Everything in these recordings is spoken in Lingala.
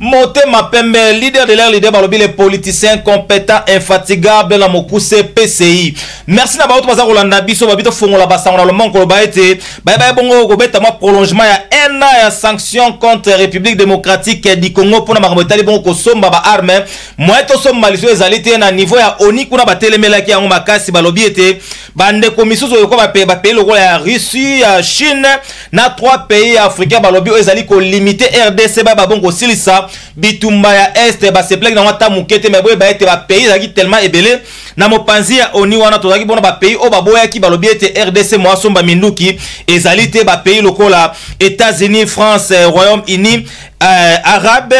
motema pembe leader de l'air leader balobi le politicien competent infatigable na mokuse pci merci na baoto baza kolanda biso babi tofongola basango na lomongo koloba ete bayebaye bongo kobeta mwa prolongement ya un an ya sanction contre république démocratique du congo mpona makambo etali bongo kosomba baarme moye tosomba liso ezali te na niveau ya oni kuna batelemelaki yango makasi balobi ete bandeko misusu oyo ko bapeye lokola ya russie ya chine na trois pays ya africain balobi oyo ezali kolimite rdc baya babongi kosilisa bitumba ya este baseplaki nango ata moke te me boyeba ete bapays ezalaki tellement ebele na mopanzi ya oni wana tozalaki mpona bapays oyo baboyaki balobi ete rdc moasomba minduki ezali te bapays lokola états-unis france eh, royaume uni euh, arabe,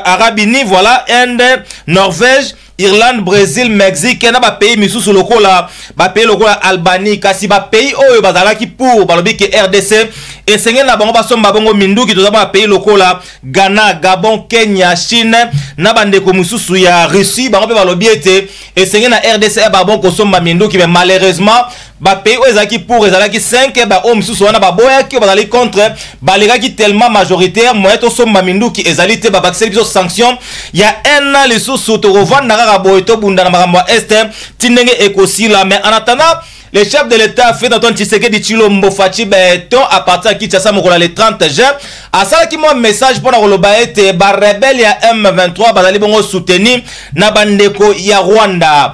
arabe uni voilà inde norvège Irlande, Brésil, Mexique na ba pays misusu lokola ba pays lokola Albanie kasi ba pays oyo bazalaki pour balobi ke RDC esengeli na bango basomba bongo minduki toza ba pays lokola Ghana, Gabon, Kenya, Chine na bandeko misusu ya Russie bango mpe balobi ete esengeli na RDC ba bongo kosomba minduki mais malheureusement bapays oyo ezalaki pour ezalaki 5 baoyo mosusu wana baboyaki oyo bazali contre balekaki tellement majoritaire moye tosomba minduki ezali te babakiseli biso sanction ya un an lisusu tokovanda kaka boye tobunda na makambo ya este ti ndenge ekosila mais en attendant le chef de l'état félix antoine tshisekedi tshilombo faci beton à partir ya kinshasa mokolo ya le 30 juin asalaki mwa message mpo na koloba ete barebele ya m23 bazali bongo souteni na bandeko ya rwanda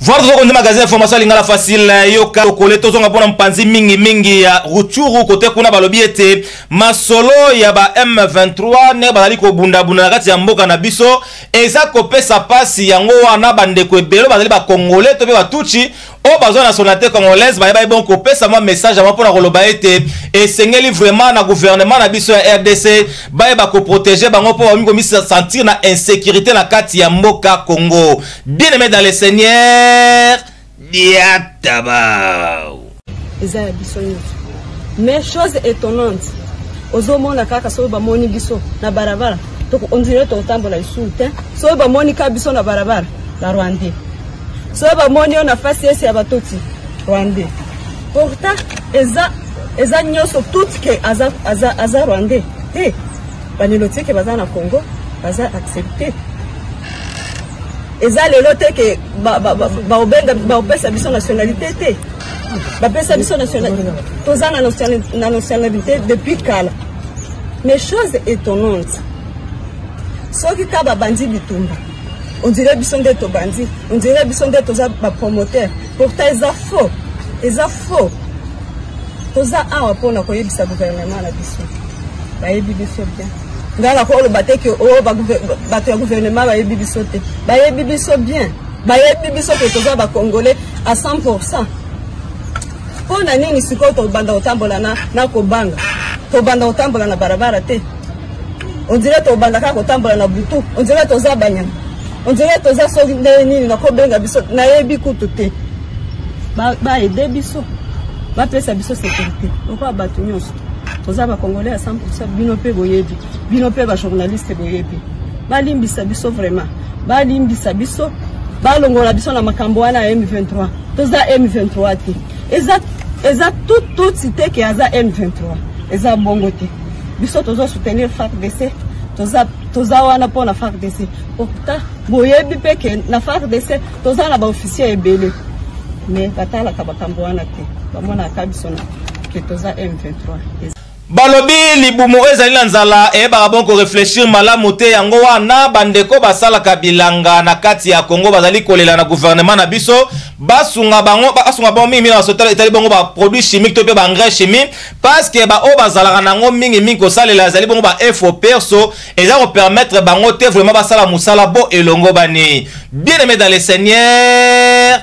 Voir tozo konde magasin information ya lingala facile eh, yoka lokole tozonga mpona mpanzi mingi mingi ya ruchuru kote kuna balobi ete masolo ya ba M23 ndenge bazali kobundabunda na kati ya mboka na biso eza kopesa pasi yango wana bandeko ebele bazali bakongole to mpe batuchi oyo bazwa nationalité congolaise baye baye bon kopesa mwa message yango mpona koloba ete esengeli vraiment na gouvernement na biso ya rdc bayeba koprotege bango mpo bakomi komisentir na insécurité na kati ya mboka congo Bien aimé dans le Seigneur, Diatabao. Eza ya biso nyonso. Mais chose étonnante, ozomona kaka soki bamoni biso na barabara, ondire tokotambola lisusu te. Soki bamoni kaka biso na barabara, na Rwandais. Soki bamoni yo na face esi ya batoti, Rwandais. Pourtant, eza eza nyonso tout ke aza, aza, aza Rwandais. Hey, banilotike baza na Congo, baza accepte. eza lelo te ke baopesa biso nationalité te bapesa biso toza na nationalité depuis kala mais chose étonnante soki ka babandi bitumba ondire biso nde tobandi ondire biso nde toza bapromoteur pourtant eza faux eza faux toza awa mpona koyebisa gouvernement na biso bayebi biso bien ngai nakoki oloba te ke o oh, bato ya gouvernement bayebi biso te bayebi biso bien bayebi biso ke toza bacongolais à 100 pourcent mpo na nini sikoyo tobanda kotambola na kobanga tobanda kotambola na barabara te ondire tobanda kaka kotambola na butu ondire toza banyama ondire toza soki ndenge nini nakobenga biso nayebi kutu te baede biso bapesa biso securité lokola bato nyonso toza ba congolais ya 100% bino pe boyebi bino pe ba journaliste boyebi balimbisa biso vraiment balimbisa biso balongola biso na makambo wana ya M23 toza M23 te eza eza tout tout site ke aza M23 eza bongo te biso tozo soutenir FARDC toza toza wana mpo na FARDC pourtant boyebi mpe ke na FARDC toza na baofficier ebele mais batalaka makambo wana te bamonaka biso na balobi libumu oyo ezali na nzala eyebaka bon koreflechir malamu te yango wana bandeko basalaka bilanga na kati ya kongo bazali kolela na guvernema na biso basunga bango basunga bango mingi mingi na etali bongo baproduit chimique to mpe baengrais chimique parceke baoyo bazalaka na yango mingi mingi kosalela ezali bongo baefo perso eza kopermettre bango te vraiment basala mosala bo elongobani bien aimé dans le seigneur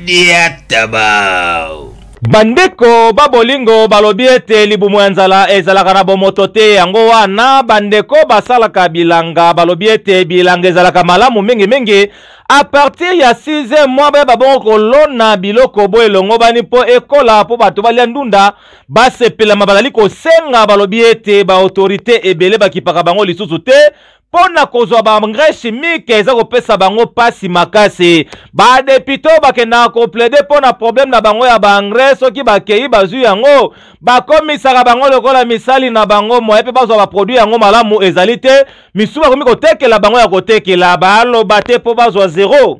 Diatabau. Bandeko ba bolingo balobi ete libumu ya nzala ezalaka na bomoto te. Yango wana bandeko basalaka bilanga balobi ete bilanga ezalaka malamu mingimingi a partir ya 6 mwa bayeba bongo kolona biloko bo elongobani mpo ekola mpo bato balya ndunda basepelama. Bazali kosenga balobi ete baautorite ebele bakipaka bango lisusu te mpo na kozwa baengrais chimique eza kopesa bango mpasi makasi badepute oyo bakendaka koplaide mpo na probleme na bango ya baengrais soki bakei bazwi yango bakomisaka bango lokola misali na bango moye mpe bazwa baproduit yango malamu ezali te misusu bakomi kotekela bango ya kotekela baloba te mpo bazwa zero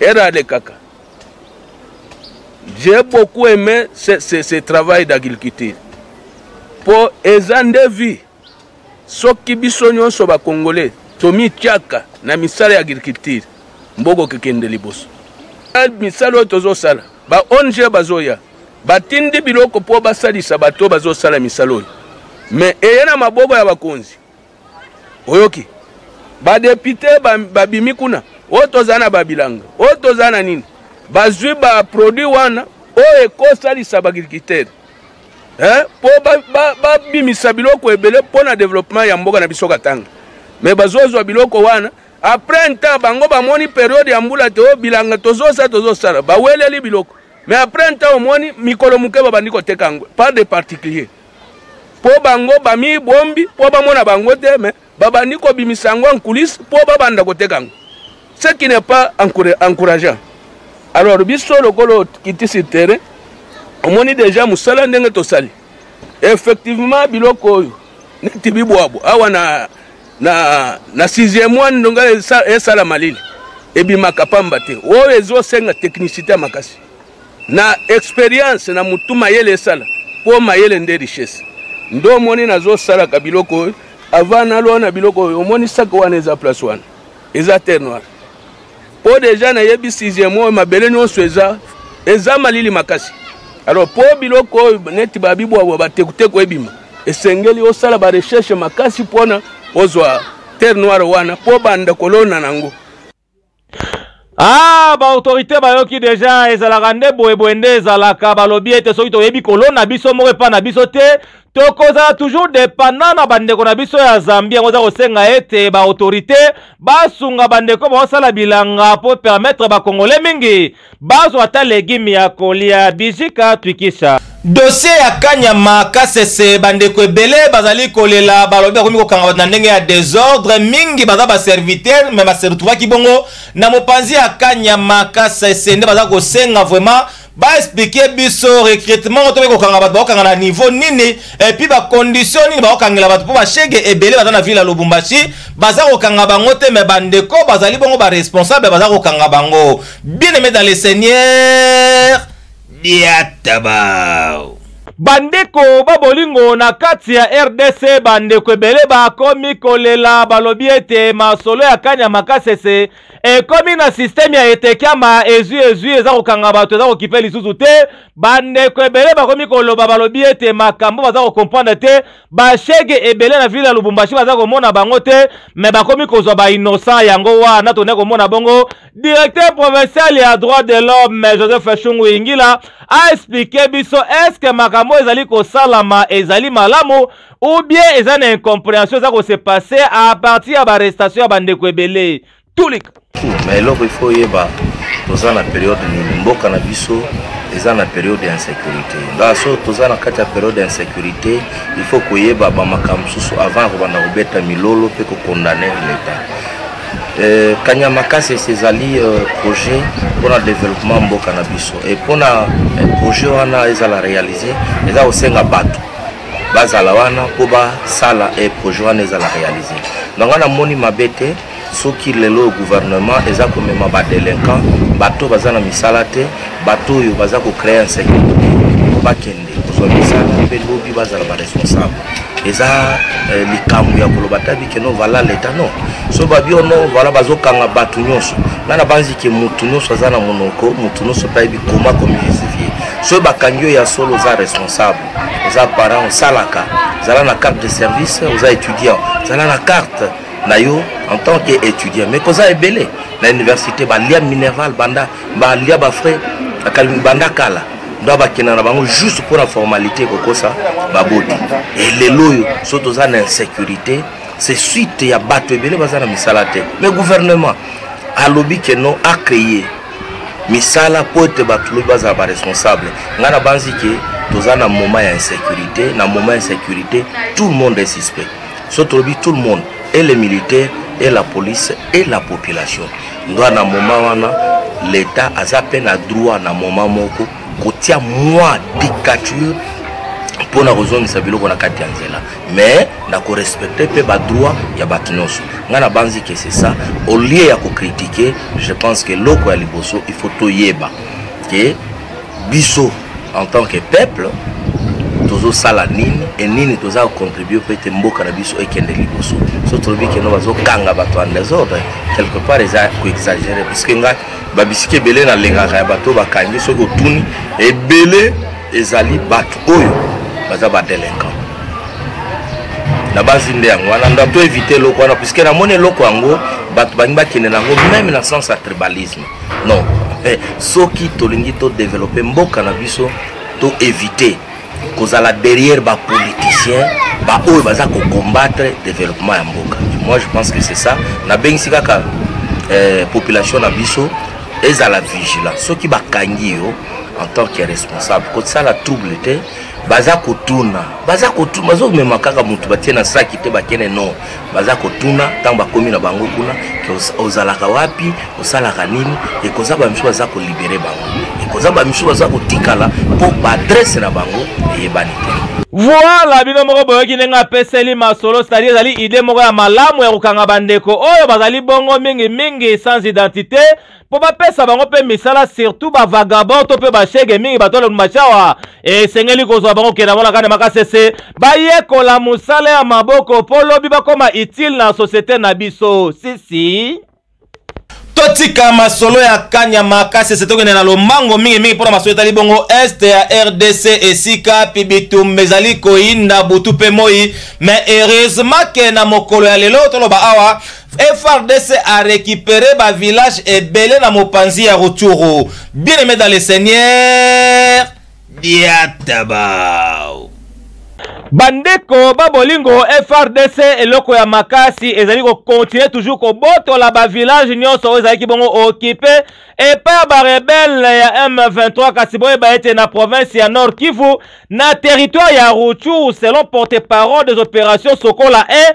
Era alekaka. J'ai beaucoup aimé ce, ce, ce travail d'agriculture. Po eza nde vie. Soki biso nyonso ba Congolais tomityaka na misala ya agriculture mboko kekende liboso. Misala oyo tozosala ba ONG bazoya batindi biloko mpo basalisa bato bazosala misala oyo me eye na maboko ya bakonzi oyoki badepute babimi ba kuna oyo toza na babilanga oyo toza na nini bazwi baproduit wana oyo ekosalisa baagricultere eh, mpo babimisa ba, ba biloko ebele mpo na developement ya mboka na biso katanga me bazozwa biloko wana apres ntan bango bamoni periode ya mbula te oyo bilanga tozosala tozosala baweleli biloko me apres ntan omoni mikolo moke babandi koteka yango par de particulier mpo bango bamibombi mpo bamona bango te me babandi kobimisa yango en coulisse mpo babanda koteka yango ce qui n'est pas encourageant alors biso lokola kitisi terrain omoni deja mosala ndenge tosali effectivement biloko oyo neti bibwabwa awa na, na, na sixième mois ndonga esala malili ebimaka pamba te oyo ezosenga technicité ya makasi na experience na mutu mayele esala mpo mayele nde richesse nde omoni nazosalaka biloko oyo avant nalwa na biloko oyo omoni saka wana eza place wana eza terre noire mpo deja nayebi sixième oyo mabele nyonso eza eza malili makasi alors mpo biloko oyo neti babibwabwa batekuteku ebima esengeli osala barecherche makasi mpona ozwa terre noire wana mpo banda kolona na yango Ah, ba autorité bayoki deja ezalaka nde boye boye nde ezalaka balobi ete soki toyebi kolona biso moko epai na biso te tokozala toujours dependant na bandeko na biso ya zambie yango eza kosenga ete ba autorité basunga bandeko baosala bilanga mpo permettre bakongole mingi Bazo ata legume ya kolia bizika twikisa. Dossier ya kanyama kasese bandeko ebele bazali kolela balobi bakomi kokanga bato na ndenge ya desordre mingi baza ba serviteur mais ba se retrouvaki bongo na mopanzi ya kanyama kasese nde baza kosenga vraiment ba expliquer biso recrutement to kokanga bato bakokanga na niveau nini et puis ba conditions nini bakokangela bato mpo ba shege ebele baza na ville ya Lubumbashi baza kokanga bango te mais bandeko bazali bongo ba responsable baza kokanga bango Bien aimé dans le Seigneur, Diatabao. bandeko ba bolingo na kati ya rdc bandeko ebele bakomi kolela balobi ete masolo ya kani ya makasese ekomi na systeme ya etekiama ezwi ezwi eza kokanga bato eza kokipe lisusu te bandeko ebele bakomi koloba balobi ete makambo baza kokomprendre te bashege ebele na ville ya lubumbashi baza komona bango te me bakomi kozwa bainnosan yango wana tone komona bongo Directeur provincial ya droit de l'homme Joseph Shungu Ingila a expliqué biso est-ce que makambo ezali kosalama ezali malamu ou bien eza na incomprehension eza ko se passer à partir ya arrestation ya bandeko ebele tulika na eloko il faut yeba toza na periode nini mboka na biso eza na periode ya insécurité nga so toza na kati ya periode ya insécurité il faut koyeba bamakambo mosusu avant ya kobanda kobeta milolo mpe kokondane leta Euh, kanya makasi ezali euh, projet mpona développement mboka na biso e mpona euh, projet wana ezala réalise eza kosenga bato bazala wana mpo basala e projet wana ezala réalise donc wana moni mabe te soki lelo gouvernement eza komema badelinquant bato baza na misala te bato oyo baza kocreye insécurité bakende kozwa misala mpe lobi bazala baresponsable eza eh, likambo ya koloba tabi ke no vala leta no so babi o no vala bazokanga bato nyonso ngai nabanzi ke motu nyonso aza na monoko motu nyonso mpe ayebi koma komijustifie soki bakangi yo ya solo oza responsable oza parent osalaka zala na carte de service oza étudiant zala na carte na yo en tant que étudiant mais koza ebele na université balia minerval banda ba lia ba frais akalingi banda kala ndo bakenda na bango juste mpo na formalité kokosa baboti e lelo oyo so toza na insécurité c'est suite ya bato ebele baza na misala te mais gouvernement alobi ke non acreye misala mpo ete bato lobi bazala baresponsable ngai nabanzi ke toza na moment ya insécurité na moment ya insécurité tout le monde est suspect so tolobi tout le monde et les militaires et la police et la population nga na moma wana leta aza mpe na droit na moma moko kotia mwa dictature mpo na kozongisa biloko na kati ya nzela mais na korespecte mpe badroit ya bato nyonso ngai nabanzi ke c'est ça au lieu ya kokritike je pense ke eloko ya liboso il faut toyeba ke biso en tant que peuple tozosala nini e nini toza kocontribue mpo ete mboka na biso ekende liboso so tolobi keno bazokanga bato en desordre quelque part eza koexagere parceke ngai babisiki ebele nalengaka ya bato bakangi soki otuni ebele ezali bato oyo baza badelinquant na basi nde yango wana ndo to evite eloko wana puiske namoni eloko yango bato balingi bakende na yango meme na sens ya tribalisme non eh, soki tolingi todevelope mboka na biso to éviter kozala derrière bapoliticien baoyo baza kocombattre développement ya mboka moi je pense que c'est ça nabengisi kaka eh, population na biso ezala vigilant soki bakangi yo en tant que responsable kosala trouble te baza kotuna baza kotuna bazomema kaka motu batie na saki te bakende no baza kotuna ntango bakomi na bango kuna ozalaka wapi osalaka nini ekoza bamisu baza kolibere bango ekoza bamisu baza kotikala mpo baadrese na bango eyebani te voila bino moko boyoki ndenge apeseli masolo cetadire ezali ide moko ya malamu ya kokanga bandeko oyo bazali bongo mingimingi sans identité mpo bapesa bango mpe misala surtout bavagabond to mpe bashege mingi bato ya lumacawa esengeli kozwa bango kenda mona kane makasese bayekola mosala ya maboko mpo lobi bakoma utile na societe na biso sisi totika masolo ya kanya makasese tokende na lombango mingimingi mpo na masolo etali bongo este ya rdc esika pibitumba ezali koyinda butu mpe moi mais heureusement ke na mokolo ya lelo toloba awa FRDC a récupéré ba village ebele na mopanzi ya Rutshuru. Bien aimé dans le Seigneur, diatabao. bandeko babolingo frdc eloko ya makasi ezali kokontinue toujours kobotola bavillage nyonso oyo ezalaki bongo okipe epai ya barebele ya m23 kasi boyeba ete na province ya nord kivu na territoire ya ruchuru selon porte parole des opérations sokola e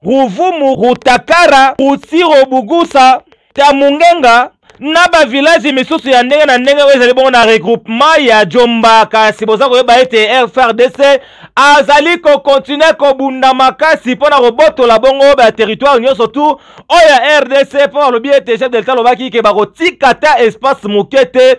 Ruvumu, Rutakara, Rutsiro, Bugusa, Kamungenga na ba village misusu ya ndenge na ndenge oyo ezali bongo na regroupement ya Jomba, kasi boza koyeba ete FRDC azali ko continuer kobunda makasi mpo na kobotola bongo ba territoire nyonso tu oyo ya RDC mpo balobi ete chef de l'etat alobaki ke bakotika ata espace moke te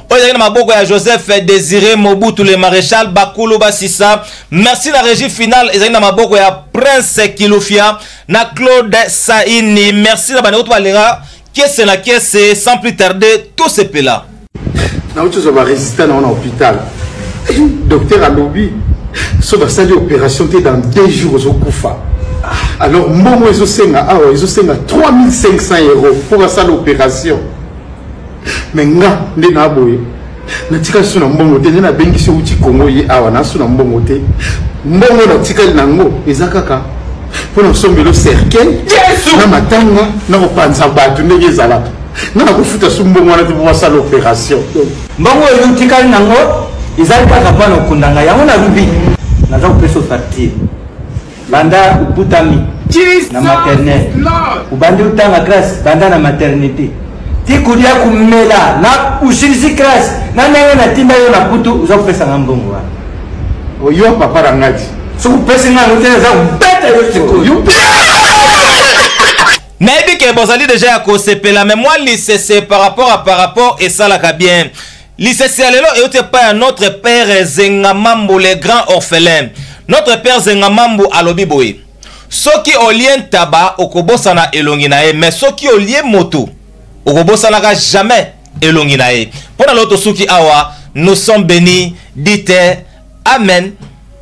oyo ezalaki na maboko ya joseph désiré mobutu le maréchal bakulu basisa merci na régie finale ezalaki na maboko ya prince kilufia na claude saini merci na bandeko to balingaka kese na kese sans plus tarder tosepela nauti ozwa baresistant na wana hôpital docteur alobi so basali opération te dans deux jours ozokufa alors mbongo ezosenga awa ezosenga 3500 euro mpo basala opération me nga nde na boye natika lisusu na mbongo te nde nabengisi outi kongo ye awa nasu na mbongo te mbongo natikali na yango eza kaka mpo na kosombelo cercueil na matanga na kopanza bato ndenge ezalaka nga nakofuta su mbongo wana te mpo basala opération mbongo oyo otikali na yango ezali kaka mpo na kokunda ngai yango nalobi naza kopesa facture banda okutami na maternel obandi otanga grace banda na maternité ti kolia komela na osilisi grace na ndenge natinda yo na kutu oza kopesanga mbongo wana oyo papa na ngati soki opesi nga yango te eza kobeta yo sikoyo nayebi ke bozali deja ya kosepela me mwa lisese par rapport a par rapport esalaka bien lisese ya lelo euti epai ya notre père zengamambu le grand orphelin notre père zengamambu alobi boye soki olie ntaba okobosana elongi na ye mais soki olie moto okobosanaka jamais elongi na ye mpo na lelo tosuki awa nous sommes bénis dite amen